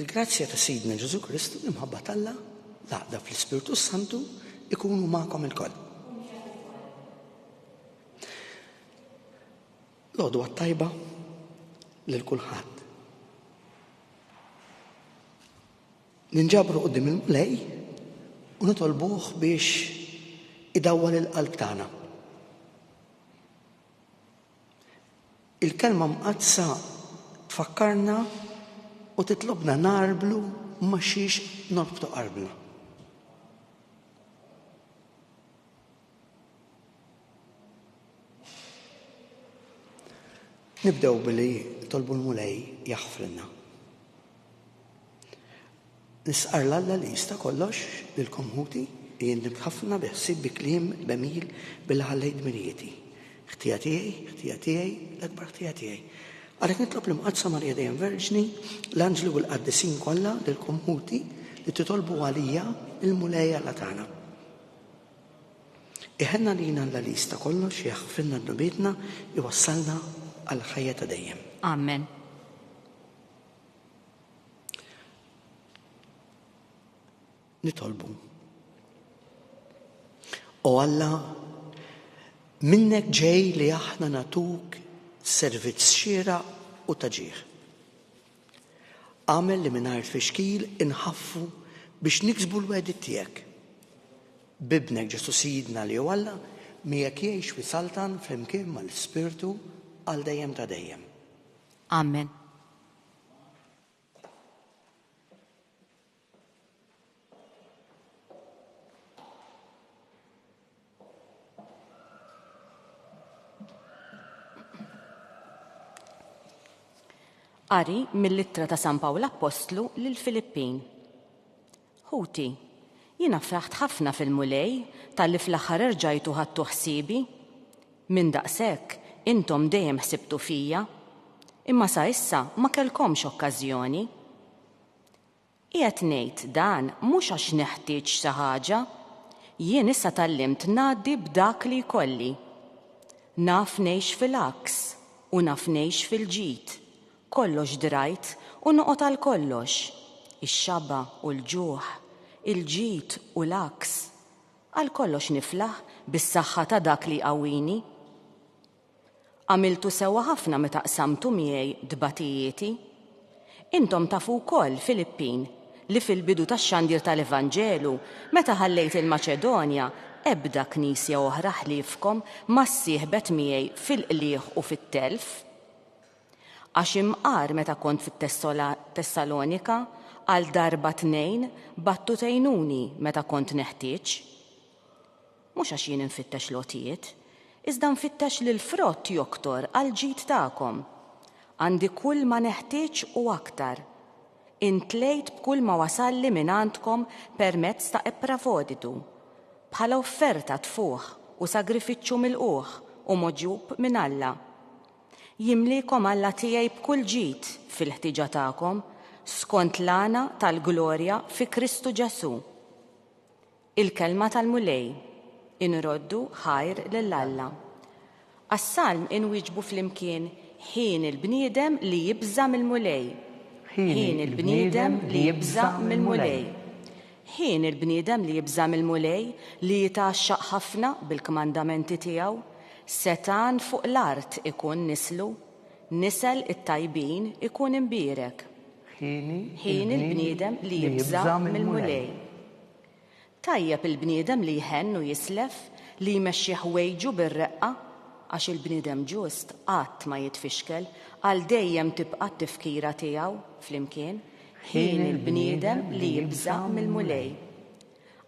Il-grazzja ta' Sidna Ġesù Kristu, l-imħabba t'Alla, l-għaqda fl-Ispirtu s-Santu ikunu magħkom ilkoll. L-għodu għat-tajba lil kulħadd. ninġabru qoddim il-Mulej u nitolbuh biex idawwal il-qalb tagħna. Il-Kelma Mqaddsa tfakkarna u titlobna ngħarblu ma' xiex norbtu qalbna. Nibdew billi tolbu l-Mulej jaħfrilna. Nistqarr 'l Alla li jista' kollox, lilkom ħuti, li jien nibt ħafna bi ħsieb bi kliem b'għemil billi ħallejt dmirijieti. Ħtija tiegħi, ħtija tiegħi, l-akbar ħtija tiegħi. Għalhekk nitlob l-Imqaddsa Marija Dejjem Verġni, l-anġli u l-qaddisin kollha lilkom ħuti li titolbu għalija lill-Mulej Alla tagħna. Iħenn għalina Alla li jista' kollox, jaħfrilna dnubietna, iwassalna għall-ħajja ta' dejjem. Amen. Nitolbu. O Alla, minnek ġej li aħna natuk servizz xira u taġiħ. Għamel li mingħajr fixkil inħaffu biex niksbu l-wedi tiegħek. Bibnek Ġesu Sidna li u Alla miegħek jgħix fi saltan flimkien mal-Spirtu għal dejjem ta' dejjem. Amen. Qari mill-ittra ta' San Pawl Appostlu lill-Filippin. Ħuti, jiena fraħt ħafna fil-Mulej talli fl-aħħar erġajtu ħadtu ħsiebi. Minn daqshekk, intom dejjem ħsibtu fija, imma sa issa ma kellkomx okkażjoni. Qiegħed ngħid dan mhux għax neħtieġ xi ħaġa, jien issa tgħallimt ngħaddi b'dak li jkolli. Naf ngħix fil-għaks u naf ngħix fil-ġid, Kollox drajt u noqgħod għal kollox, ix-xaba' u l-ġuħ, il-ġid u l-għaks, għal kollox niflaħ bis-saħħa ta' dak li jqawwini. Għamiltu sewwa ħafna meta qsamtu miegħi tbatijieti. Intom tafu wkoll, Filippin, li fil-bidu tax-xandir tal-Evanġelu, meta ħallejt il-Maċedonja, ebda knisja oħra ħliefkom ma ssieħbet miegħi fil-qligħ u fit-telf. Għax imqar meta kont fit-Tessalonika, għal darba tnejn battu tgħinuni meta kont neħtieġ. Mhux għax jien infittex l-għotjiet, iżda nfittex li l-frott joktor għall-ġid tagħkom. Għandi kull ma neħtieġ u aktar. Intlejt b'kull ma wasalli mingħandkom permezz ta' Eprafoditu, bħala offerta tfuħ u sagrifiċċju milqugħ u mogħġub minn Alla. Jimliekom Alla tiegħi b'kull ġid fil-ħtieġa tagħkom, skont l-għana tal-glorja fi Kristu Ġesù. Il-kelma tal-Mulej, Inroddu ħajr lil Alla. Għas-salm inwieġbu flimkien, Ħin il-bniedem li jibża' mill-Mulej. Ħin il-bniedem li jibża' mill-Mulej. Ħin il-bniedem li jibża' mill-Mulej, li jitgħaxxaq ħafna bil-kmandamenti tiegħu, setgħan fuq l-art ikun nislu, nisel it-tajbin ikun imbierek. Ħin il-bniedem li jibża' mill-Mulej. Tajjeb il-bniedem li jħenn u jislef, li jmexxi ħwejġu bir-reqqa, għax il-bniedem ġust qatt ma jitfixkel, għal dejjem tibqa' t-tifkira tiegħu flimkien, Ħin il-bniedem li jibża' mill-Mulej.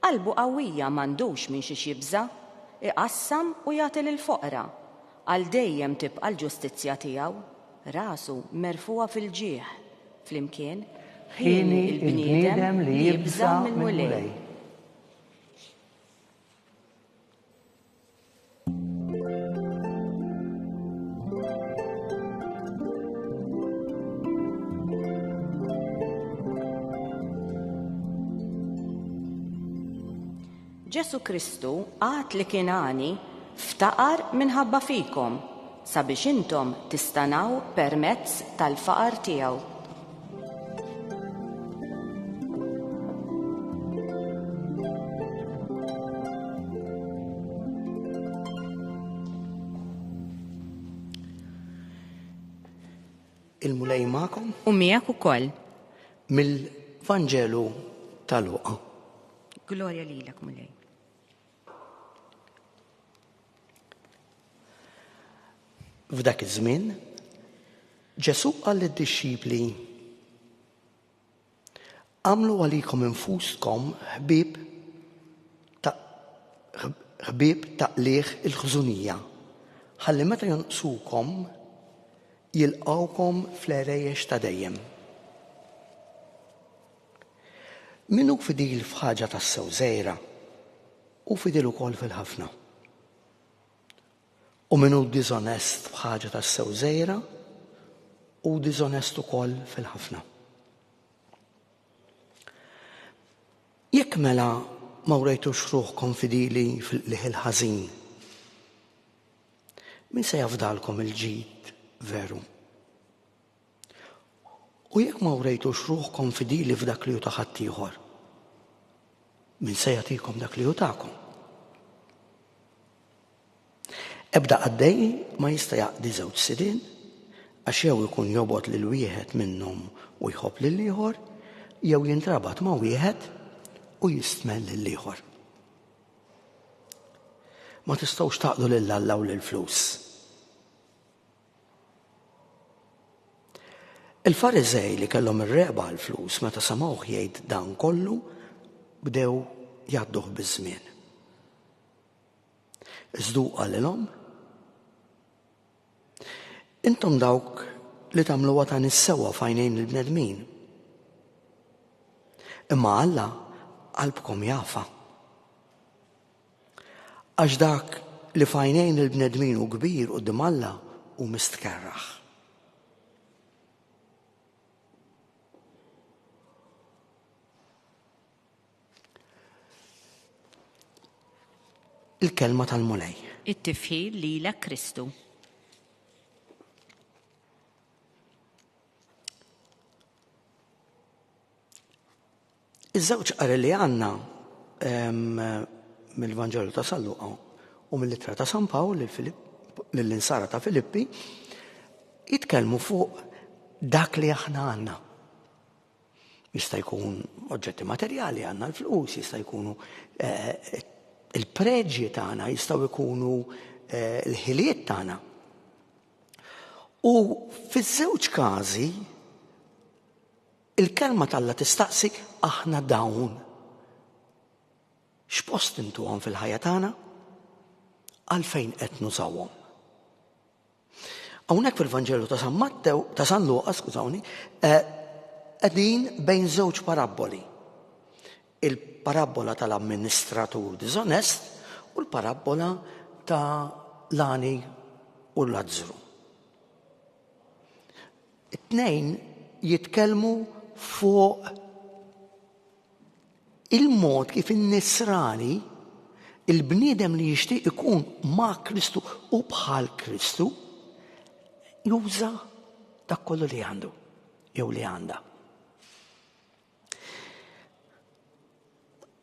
Qalbu qawwija m'għandux minn xiex jibża', iqassam u jagħti lill-foqra, għal dejjem tibqa' l-ġustizzja tiegħu, rasu merfugħa fil-ġieħ. Flimkien, Ħin il-bniedem li jibża' mill-Mulej. Ġesu Kristu għat li kien għani ftaqar minħabba fikom sabiex intom tistanaw permezz tal-faqar tiegħu. il-Mulej ma'kom. U miegħek ukoll. Mill-Vanġelu tal-Luqa. Glorja lilek, Mulej. F'dak iż-żmien, Ġesù qal lid-dixxipli, Għamlu għalikom infuskom ħbieb ta' ħbieb ta' qliħ il-ħżunija, ħalli meta jonqsukom jilqawkom fl-erejjex ta' dejjem. Min hu fidil f'ħaġa tassew żgħira, hu fidil ukoll fil-ħafna. U min hu diżonest f'ħaġa tassew żgħira, hu diżonest ukoll fil-ħafna. Jekk mela ma wrejtux ruħkom fidili fil-qliħ il-ħażin, min se jafdalkom il-ġid veru? U jekk ma wrejtux ruħkom fidili f'dak li hu ta' ħaddieħor, min se jagħtikom dak li hu tagħkom? Ebda qaddej ma jista' jaqdi żewġ sidien għax jew ikun jobgħod lil wieħed minnhom u jħobb lil ieħor, jew jintrabat ma' wieħed u jistmel lil ieħor. Ma tistgħux taqdu lil Alla u lil flus. Il-Fariżej li kellhom ir-regħba għall-flus meta semgħuh jgħid dan kollu bdew jgħadduh biż-żmien. Iżdu qalilhom Intom dawk li tagħmluha ta' nissewa fajnejn il-bnedmin. Imma Alla qalbkom jafa. Għax dak li f'għajnejn il-bnedmin hu kbir quddiem Alla hu mistkerraħ. Il-kelma tal-Mulej. It-tifħil lilek Kristu. Iż-żewġ qari li għandna mill-Vanġelu ta' San Luqa u mill-Ittra ta' San Pawl lill-Insara ta' Filippi jitkellmu fuq dak li aħna għandna. Jista' jkun oġġetti materjali għandna l-flus, jista' jkunu eh, il-preġji tagħna, jistgħu jkunu eh, l-ħiliet tagħna. U fiż-żewġ każi Il-Kelma t'Alla tistaqsi, Aħna dawn, x'post intuhom fil-ħajja tagħna? Għalfejn qed nużawhom? Hawnhekk fil-Vanġelu ta' San Mattew, ta' San Luqa, skużawni, eh, qegħdin bejn żewġ parabboli. Il-parabbola tal-amministratur diżonest u l-parabbola ta' l-għani u l-azzru. It-tnejn jitkellmu fuq il-mod kif in-Nisrani, il-bniedem li jixtieq ikun ma' Kristu u bħal Kristu, juża dak kollu li għandu jew li għandha.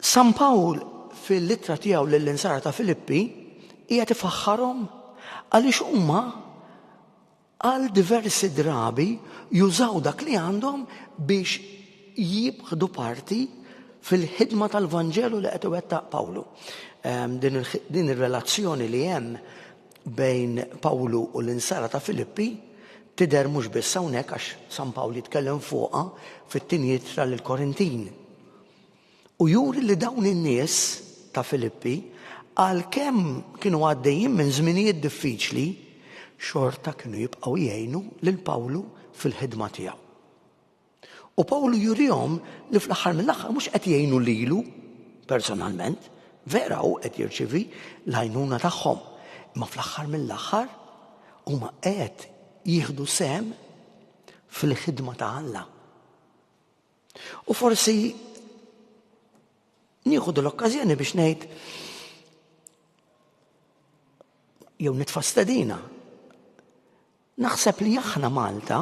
San Pawl fil-ittra tiegħu lill-insara ta' Filippi hija tifaħħarhom għaliex huma għal diversi drabi jużaw dak li għandhom biex jieħdu parti fil-ħidma tal-Vanġelu li qed iwettaq Pawlu. Ehm, din ir-relazzjoni li hemm bejn Pawlu u l-insara ta' Filippi tidher mhux biss hawnhekk għax San Pawl jitkellem fuqha fit-tieni ittra lil Korintin. U juri li dawn in-nies ta' Filippi għalkemm kienu għaddejjin minn żminijiet diffiċli, xorta kienu jibqgħu jgħinu lil Pawlu fil-ħidma tiegħu. U Pawlu jurihom li fl-aħħar mill-aħħar mhux qed jgħinu lilu personalment, vera hu qed jirċievi l-għajnuna tagħhom, imma fl-aħħar mill-aħħar huma qed jieħdu sem fil-ħidma ta' Alla. U forsi nieħu l-okkażjoni biex ngħid jew nitfastedina Naħseb li aħna Malta,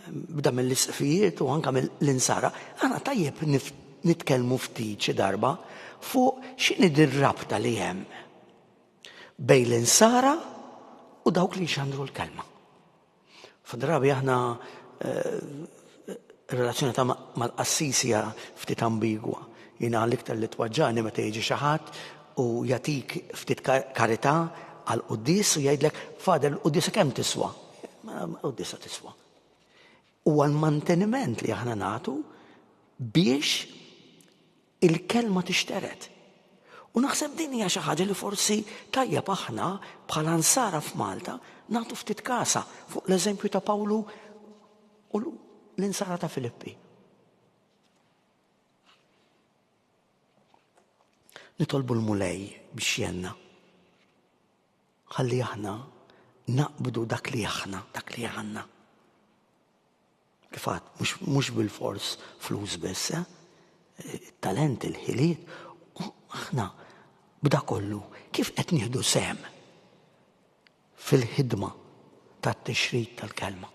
bda mill-isqfijiet u anke mill-insara, aħna tajjeb nitkellmu ftit xi darba fuq x'inhi dir-rabta li hemm bejn l-insara u dawk li jxandru l-kelma. F'drabi aħna Ir-relazzjoni ta' mal-qassis hija ftit ambigwa. Jiena l-iktar li twaġġani meta jiġi xi ħadd u jagħtik ftit karità għal qudies u jgħidlek fader il-qudiesa kemm tiswa? Qudiesa tiswa. Huwa l-manteniment li aħna nagħtu biex il-Kelma tixtered. U naħseb din hija xi ħaġa li forsi tajjeb aħna bħala Nsara f'Malta nagħtu ftit kasha fuq l-eżempju ta' Pawlu u l-Insara ta' Filippi. Nitolbu l-Mulej biex jenna. Ħalli aħna naqbdu dak li aħna, dak li għandna. Kif għad, mhux bilfors flus biss, eh? Talent, il-ħiliet, u aħna b'da kollu kif qed nieħdu sehem fil-ħidma tat-tixrid tal-kelma.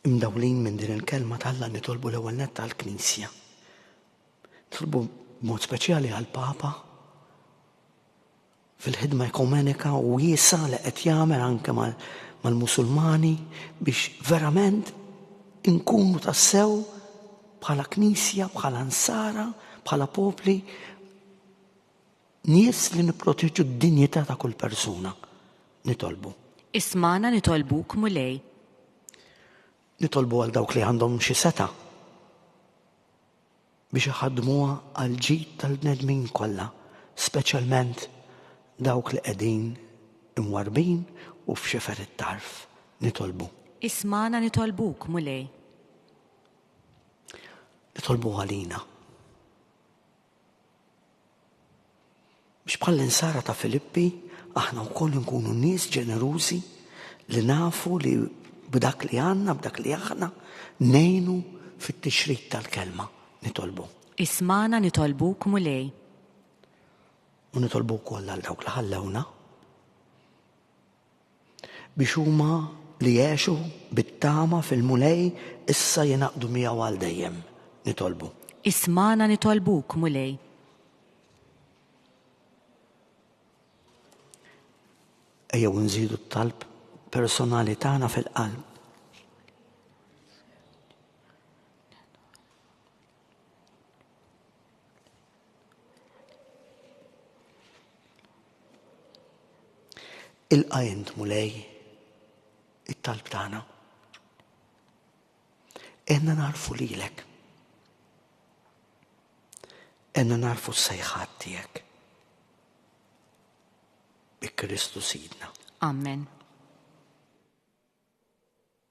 Imdawlin minn din il-kelma tal-la nitolbu l-ewwel nett tal-Knisja. Nitolbu mod speċjali għal papa fil-ħidma ekumenika wiesgħa li qed jagħmel anke mal-Musulmani biex verament inkunu tassew bħala Knisja, bħala Nsara, bħala popli nies li nipproteġu d-dinjità ta' kull persuna. Nitolbu. Ismagħna nitolbuk, Mulej. Nitolbu għal dawk li għandhom xi setgħa. biex iħaddmuha għall-ġid tal-bnedmin kollha, speċjalment dawk li qegħdin imwarrbin u f'xifer it-tarf. Nitolbu. Ismagħna nitolbuk, Mulej. Nitolbu għalina. Biex bħall-insara ta' Filippi aħna wkoll nkunu nies ġenerużi li nafu li b'dak li għandna, b'dak li aħna, ngħinu fit-tixrid tal-Kelma. Nitolbu. Ismagħna nitolbuk, Mulej. U nitolbu wkoll għal dawk li ħallewna. biex huma li jgħexu bit-tama fil-Mulej issa jingħaqdu miegħu għal dejjem. Nitolbu. Ismagħna nitolbuk, Mulej. Ejjew nżidu t-talb personali tagħna fil-qalb Ilqa int mulej it-talb tagħna. Enna narfu lilek. Enna narfu s-sejħat tiegħek. Bi Kristu Sidna. Amen.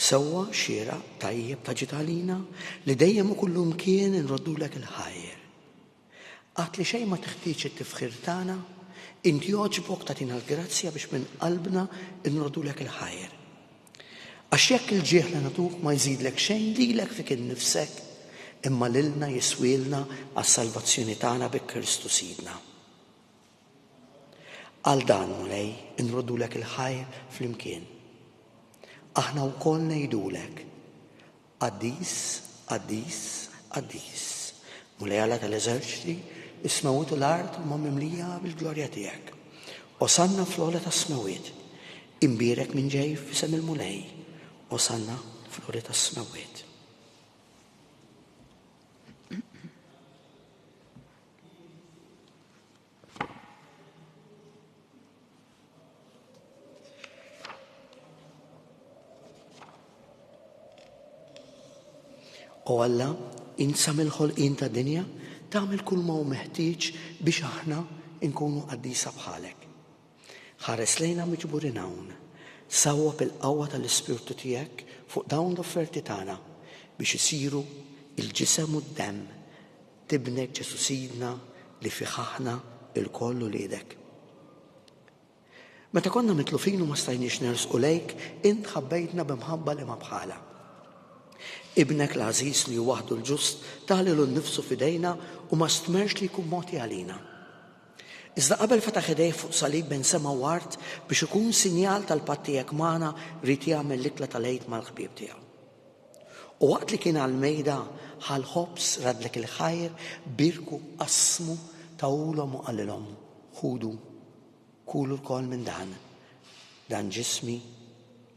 Sewwa, xieraq, tajjeb, ta' ġid għalina, li dejjem u kullimkien inroddulek il-ħajr. Għad li xejn ma teħtieġ it-tifħir tagħna, int jogħġbok tagħtina l-grazzja biex minn qalbna nroddulek il-ħajr. Għax jekk il-ġieħ li nagħtuk ma jżidlek xejn lilek fik innifsek, imma lilna jiswielna għas-salvazzjoni tagħna bi Kristu Sidna. Għal dan, Mulej, inroddulek il-ħajr flimkien. Aħna wkoll ngħidulek, Qaddis, qaddis, qaddis, Mulej Alla tal-eżerċti, is-smewwiet u l-art huma mimlija bil-glorja tiegħek. Osanna fl-ogħla tas-smewwiet. Imbierek min ġej f'isem il-Mulej. Osanna fl-ogħla tas-smewwiet. O Alla, insam il-ħolqien ta' dinja, tagħmel kull ma hu meħtieġ biex aħna nkunu qaddisa bħalek. Ħares lejna miġburin hawn, sawwa bil-qawwa tal-Ispirtu tiegħek fuq dawn l-offerti tagħna biex isiru il-ġisem u d-demm Tibnek Ġesu' Sidna li fih aħna ilkoll uliedek. Meta konna mitlufin u ma stajniex nersqu lejk, int ħabbejtna bi mħabba li ma bħalha. Ibnek l-għażiż li hu waħdu l-ġust ta lilu nnifsu f'idejna u ma stmerx li jkun mogħti għalina. Iżda qabel fetaħ idejh fuq salib bejn sema u art biex ikun sinjal tal-patt tiegħek magħna ried jagħmel l-ikla tal-Għid mal-ħbieb tiegħu. U waqt li kien għall-mejda, ħa l-ħobż, raddlek il-ħajr, bierku, qassmu, tawhulhom u qalilhom, Ħudu, kulu lkoll minn dan, dan ġismi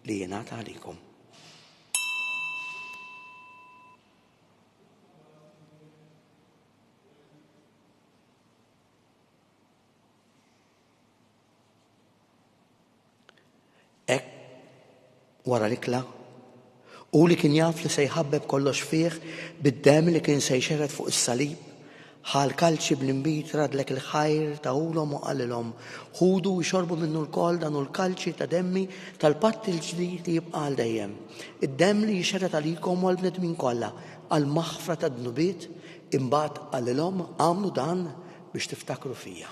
li jingħata għalikom. Hekk wara l-ikla, u li kien jaf li se jħabbeb kollox fih bid-demm li kien se jxerred fuq is-salib, ħa l-kalċi bl-inbid radlek il-ħajr tahulhom u qalilhom, Ħudu u xorbu minnu lkoll dan hu l-kalċi ta' demmi tal-patt il-ġdid li jibqa' għal dejjem, id-demm li jixxerred għalikom u għall-bnedmin kollha għall-maħfra tad-dnubiet, imbagħad qalilhom, Agħmlu dan biex tiftakru fija.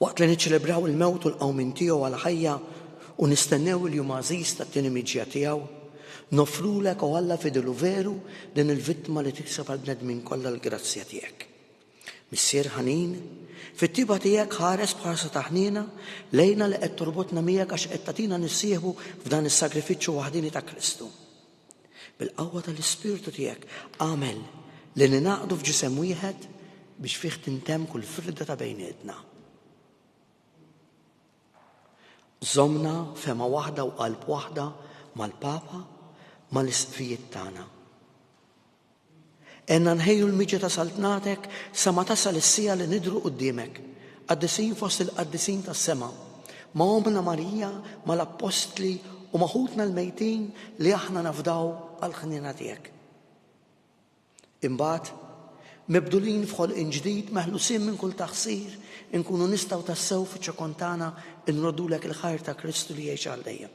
Waqt li niċċelebraw il-mewt u l-qawmien tiegħu għal ħajja u nistennew il-jum għażiż tat-tieni miġja tiegħu, noffrulek, o Alla fidel u veru, din il-vittma li tikseb għall-bnedmin kollha l-grazzja tiegħek. Missier ħanin, fit-tjieba tiegħek ħares b'ħarsa ta' ħniena lejna li qed torbotna miegħek għax qed tagħtina nissieħbu f'dan is-sagrifiċċju waħdieni ta' Kristu. Bil-qawwa tal-Ispirtu tiegħek agħmel li ningħaqdu f'ġisem wieħed biex fih tintemm kull firda ta' bejnietna. Żomna fema waħda u qalb waħda mal-Papa mal-isqfijiet tagħna. Għenna nħejju l-miġja ta' Saltnatek sa ma tasal is-siegħa li nidhru quddiemek, qaddisin fost il-qaddisin tas-sema, ma' Ommna Marija, ma' l-appostli u ma' ħutna l-mejtin li aħna nafdaw għall-ħniena tiegħek. Imbagħad, mibdulin f'ħolqien ġdid, meħlusin minn kull taħsir, inkunu nistgħu tassew fiċ-ċokon tagħna nroddulek il-ħajr ta' Kristu li jgħix għal dejjem.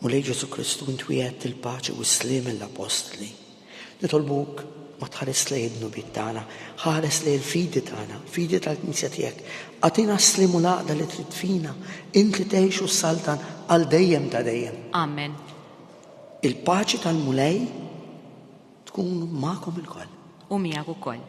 Mulej Ġesù Kristu, int wiegħedt il-paċi u s-sliem lill-appostli. Nitolbuk ma tħares lejn id-dnubiet tagħna, ħares lejn il-fidi tagħna, fidi tal-Knisja tiegħek. Atina s-sliem u l-għaqda li trid fina, int li tgħix u saltan għal dejjem ta' dejjem. Amen. Il-paċi tal-Mulej tkun magħkom ilkoll. U miegħek ukoll.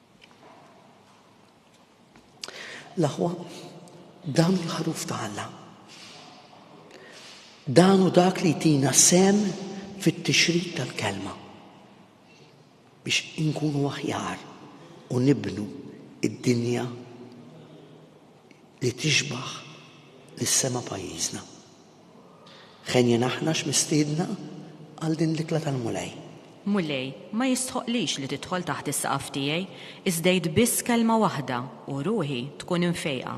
L-aħwa, dan hu l-ħaruf ta' Alla. Dan hu dak li jtina sem fit-tixrid tal-kelma biex inkunu aħjar u nibnu id-dinja li tixbaħ lis-sema pajjiżna. Ħenjin aħna x'mistiedna għal din l-ikla tal-Mulej. Mulej, ma jistħoqqlix li tidħol taħt is-saqaf tiegħi, iżda għid biss kelma waħda, u ruħi tkun imfejqa.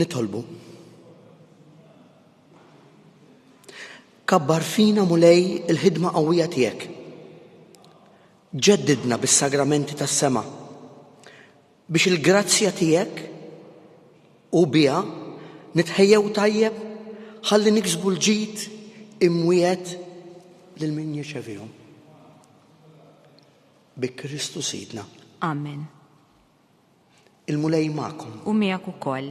nitolbu. Kabbar fina mulej il-ħidma qawwija tiegħek. Ġeddidna bis-sagramenti tas-sema. Biex il-grazzja tiegħek u biha nitħejjew tajjeb ħalli niksbu l-ġid imwiegħed lil min jirċevihom. Bi Kristu Sidna. Amen. Il-Mulej magħkom. U miegħek ukoll.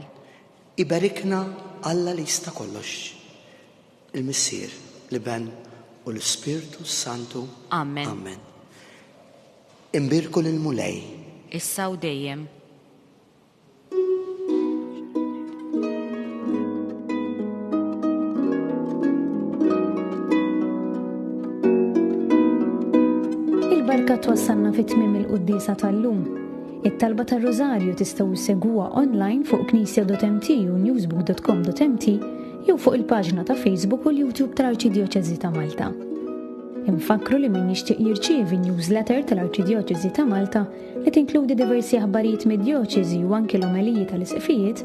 Iberikna Alla li jista' kollox. Il-Missier, l-Iben u l-Ispirtu s-Santu. Amen. Amen. Imbierku lill-Mulej. Issa u dejjem. Il-barka twassalna fit tmim il-quddisa tal-lum. It-talba tar-Rożarju tistgħu ssegwuha online fuq knisja.mt u newsbook.com.mt jew fuq il-paġna ta' Facebook u l-YouTube tal-Arċidjoċesi ta' Malta. Infakkru li min jixtieq jirċievi newsletter tal-Arċidjoċesi ta' Malta li tinkludi diversi aħbarijiet mid-djoċesi u anki l-omeliji tal-isqfijiet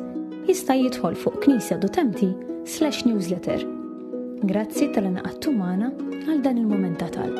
jista' jidħol fuq Knisja Dutemti slash newsletter. Grazzi tal-anaqattu magħna għal dan il-moment ta' talb.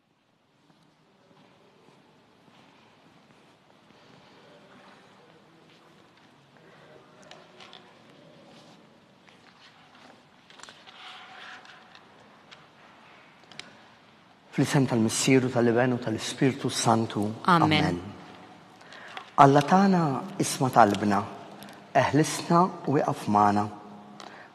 Fl-isem tal-Missieru tal-Iben u tal-Ispirtu Santu. Amen. Alla tagħna isma talbna, eħlisna u iqaf magħna.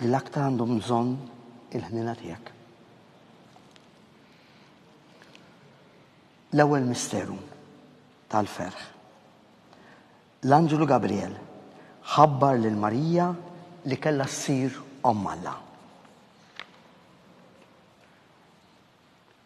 L-aktar għandhom bżonn il-ħniena tiegħek. L-ewwel misteru tal-ferħ. L-anġlu Gabriel ħabbar lil Marija li kellha ssir Omm Alla.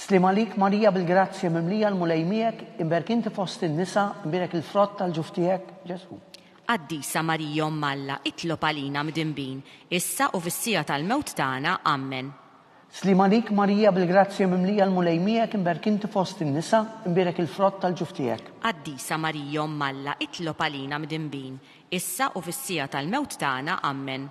Sliem għalik, Marija bil-grazzja mimlija l-Mulej miegħek, imberk inti fost in-nisa, imbierek il-frott tal-ġuf tiegħek, Ġesù. Qaddisa Marija Omm Alla, itlob għalina mdinbin, issa u fis-siegħa tal-mewt tagħna. Ammen. Sliem għalik, Marija bil-grazzja mimlija l-Mulej miegħek, imberk inti fost in-nisa, imbierek il-frott tal-ġuf tiegħek. Qaddisa Marija Omm Alla, itlob għalina mdinbin, issa u fis-siegħa tal-mewt tagħna. Ammen.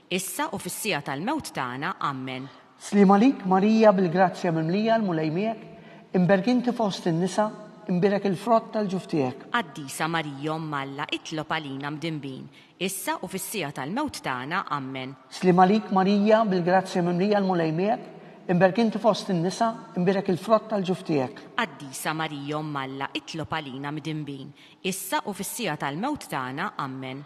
Issa u fis-siegħa tal-mewt tagħna. Ammen. Sliem għalik, Marija, bil-grazzja mimlija, l-Mulej miegħek, imberk inti fost in-nisa, imbierek il-frott tal-ġuf tiegħek. Qaddisa Marija Omm Alla, itlob għalina mdinbin, issa u fis-siegħa tal-mewt tagħna. Ammen. Sliem għalik, Marija, bil-grazzja mimlija, l-Mulej miegħek, imberk inti fost in-nisa, imbierek il-frott tal-ġuf tiegħek. Qaddisa Marija Omm Alla, itlob għalina mdinbin, issa u fis-siegħa tal-mewt tagħna. Ammen.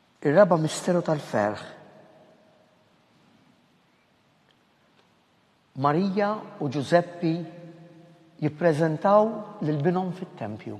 Ir-raba' misteru tal-ferħ. Marija u Ġużeppi jippreżentaw lil binhom fit-tempju.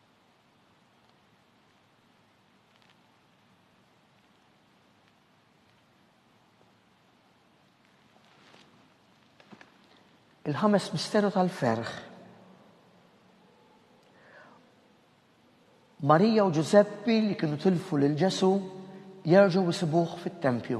Il-ħames misteru tal-ferħ. Marija u Ġużeppi li kienu tilfu lil Ġesu jerġgħu jisibuh fit-tempju.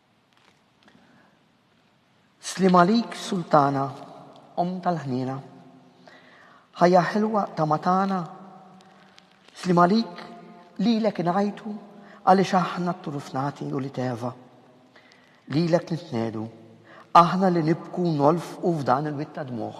Sliem għalik Sultana, Omm tal-ħniena. Ħajja ħelwa ta' ma tana, Sliem għalik lilek ingħajtu għaliex aħna t-turuf nagħti u li teva. Lilek nitniegħdu, aħna li nibku u nolfqu f'dan il-wied ta' dmugħ.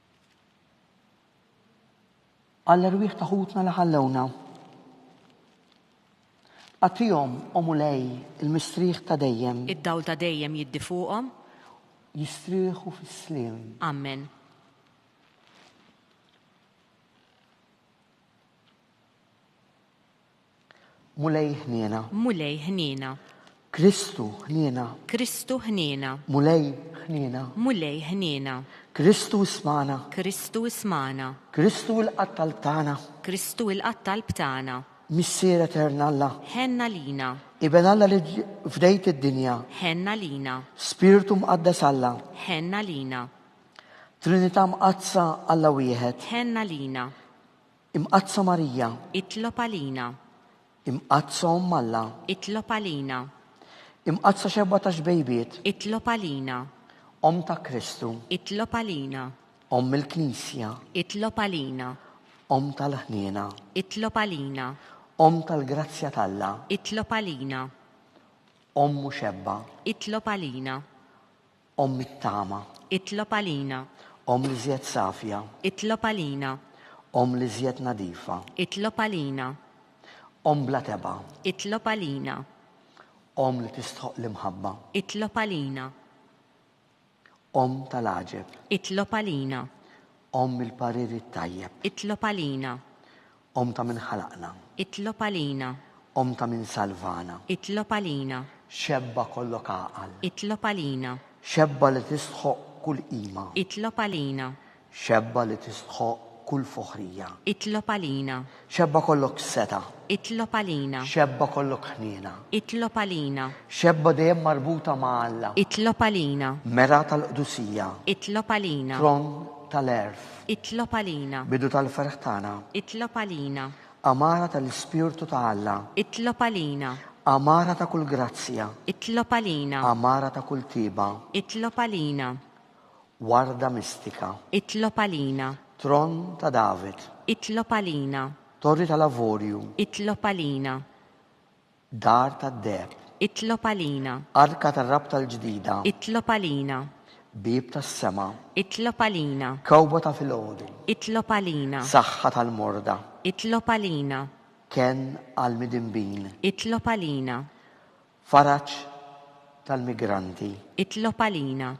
Għall-erwieħ ta' ħutna li ħallewna. Agħtihom, O Mulej, il-mistrieħ ta' dejjem. Id-dawl ta' dejjem jiddi fuqhom. Jistrieħu fis-sliem. Amen. Mulej ħniena. Mulej ħniena. Kristu ħniena. Kristu ħniena. Mulej ħniena. Mulej ħniena. Kristu ismana. Kristu ismana. Kristu il-qatt talb tagħna. Kristu il-qatt talb tagħna. Missier Etern Alla. Ħenna lina. Iben Alla li fdejt id-dinja. Ħenna lina. Spirtu Mqaddes Alla. Ħenna lina. Trinità Mqaddsa Alla wieħed. Ħenna lina. Imqaddsa Marija. Itlob għalina. Imqaddsa Omm Alla. Itlob għalina. Imqaddsa Xebgħa tax-Xbejbiet. Itlob għalina. Omm ta' Kristu. Itlob għalina. Omm il-Knisja. Itlob għalina. Omm tal-ħniena. Itlob għalina. Omm tal-grazzja t'Alla. Itlob għalina. Omm u Xebgħa. Itlob għalina. Omm it-tama. Itlob għalina. Omm l-iżjed safja. Itlob għalina. Omm l-iżjed nadifa. Itlob għalina. Omm bla tebgħa. Itlob għalina. Omm li tistħoqq l-imħabba. Itlob għalina. Omm tal-għaġeb. Itlob għalina. Omm il-parir it-tajjeb. Itlob għalina. Omm ta' min ħalaqna. Itlob għalina. Omm ta' min salvana. Itlob għalina. Xebba kollok għaqal. Itlob għalina. Xebba li tistħoqq kull qima. Itlob għalina. Xebba li tistħoqq kull foħrija. Itlob għalina. Xebba kollok setgħa. Itlob għalina. Xebba kollok ħniena. Itlob għalina. Xebba dejjem marbuta ma' Alla. Itlob għalina. Mergħa tal-qdusija. Itlob għalina. Tron tal-għerf. Itlob għalina. Bidu tal-ferħ tagħna. Itlob għalina. Għamara tal-Ispirtu ta' Alla. Itlob għalina. Għamara ta' kull grazzja. Itlob għalina. Għamara ta' kull tjieba. Itlob għalina. Warda mistika. Itlob għalina. Tron ta' David. Itlob għalina. Torri tal-Avorju. Itlob għalina. Dar tad-deheb. Itlob għalina. Arka tar-rabta l-ġdida. Itlob għalina. Bieb tas-sema. Itlob għalina. Kewkba ta' filgħodu. Itlob għalina. Saħħa tal-morda. Itlob għalina. Kenn għall-midinbin. Itlob għalina. Faraġ tal-migranti. Itlob għalina.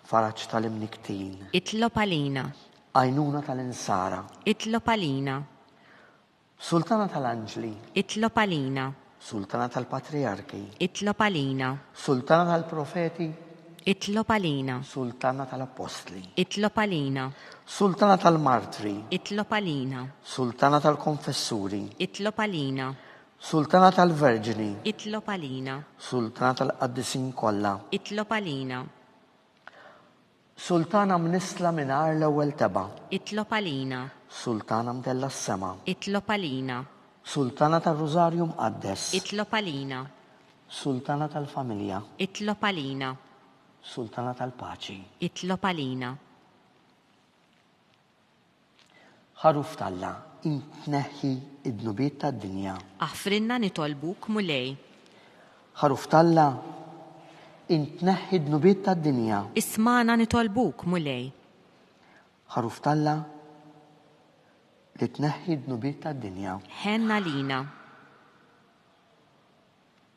Faraġ tal-imnikktin. Itlob għalina. Għajnuna tal-insara. Itlob għalina. Sultana tal-anġli. Itlob għalina. Sultana tal-patrijarki. Itlob għalina. Sultana tal-profeti. Itlob għalina. Sultana tal-appostli. Itlob għalina. Sultana tal-martri. Itlob għalina. Sultana tal-konfessuri. Itlob għalina. Sultana tal-verġni. Itlob għalina. Sultana tal-qaddisin kollha. Itlob għalina. Sultana mnissla mingħajr l-ewwel tebgħa. Itlob għalina. Sultana mtellgħa s-sema. Itlob għalina. Sultana tar-Rużarju Mqaddes. Itlob għalina. Sultana tal-familja. Itlob għalina. Sultana tal-paċi. Itlob għalina. Ħaruf t'Alla, int tneħħi d-dnubiet tad-dinja. Aħfrilna nitolbuk, Mulej. Ħaruf t'Alla, int tneħħi d-dnubiet tad-dinja. Ismagħna nitolbuk, Mulej. Ħaruf t'Alla, li tneħħi d-dnubiet tad-dinja. Ħenn għalina.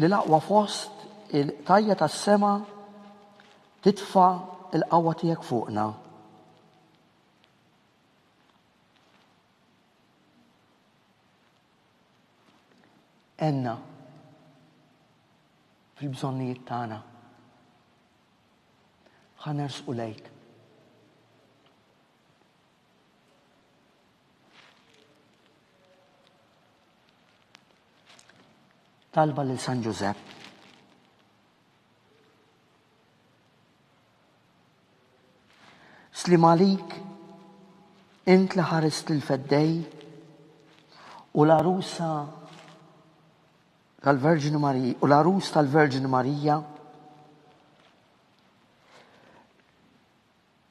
Li l-aqwa fost il-qtajja' tas-sema titfa' l-qawwa tiegħek fuqna. Għenna fil-bżonnijiet tagħna. Ħa nersqu lejk. Talba lil San Ġużepp. Sliem għalik, int li ħarist il-feddej u l-arusa tal-Verġni Marija u l-arus tal-Verġni Marija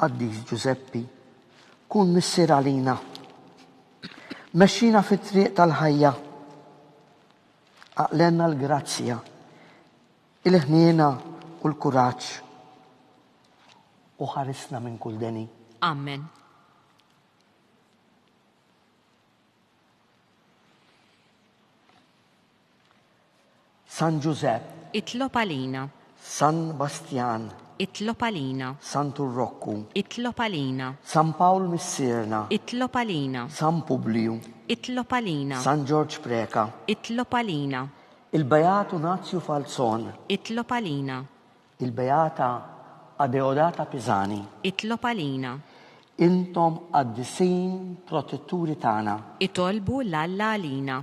Qaddis Ġużeppi, kun missier għalina. Mexxina fit-triq tal-ħajja. Aqlenna l-grazzja, il-ħniena u l-kuraġġ. U ħarisna minn kull deni. Amen. San Ġużepp. Itlob għalina. San Bastjan. Itlob għalina. Santu Rokku. Itlob għalina. San Pawl Missierna. Itlob għalina. San Publiju. Itlob għalina. San Ġorġ Preca. Itlob għalina. Il-Beat Unazju Falzon. Itlob għalina. Il-Beata Adeodata Pisani. Itlob għalina. Intom qaddisin protetturi tagħna. Itolbu 'l Alla għalina.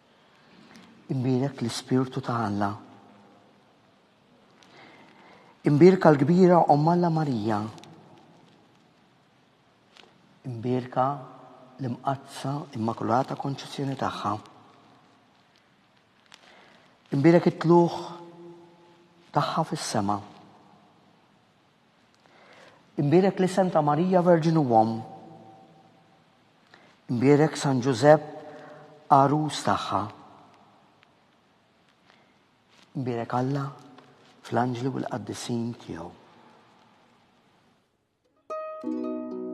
Imbierek l-Ispirtu ta' Alla. Imbierka l-kbira Omm Alla Marija. Imbierka l-Imqaddsa Immakulata Konċessjoni tagħha. Imbierek it-tlugħ tagħha fis-sema. Imbierek li Santa Marija Verġni u Omm. Imbierek San Ġużepp Għarus tagħha. Imbierek Alla fl-anġli u l-qaddisin tiegħu.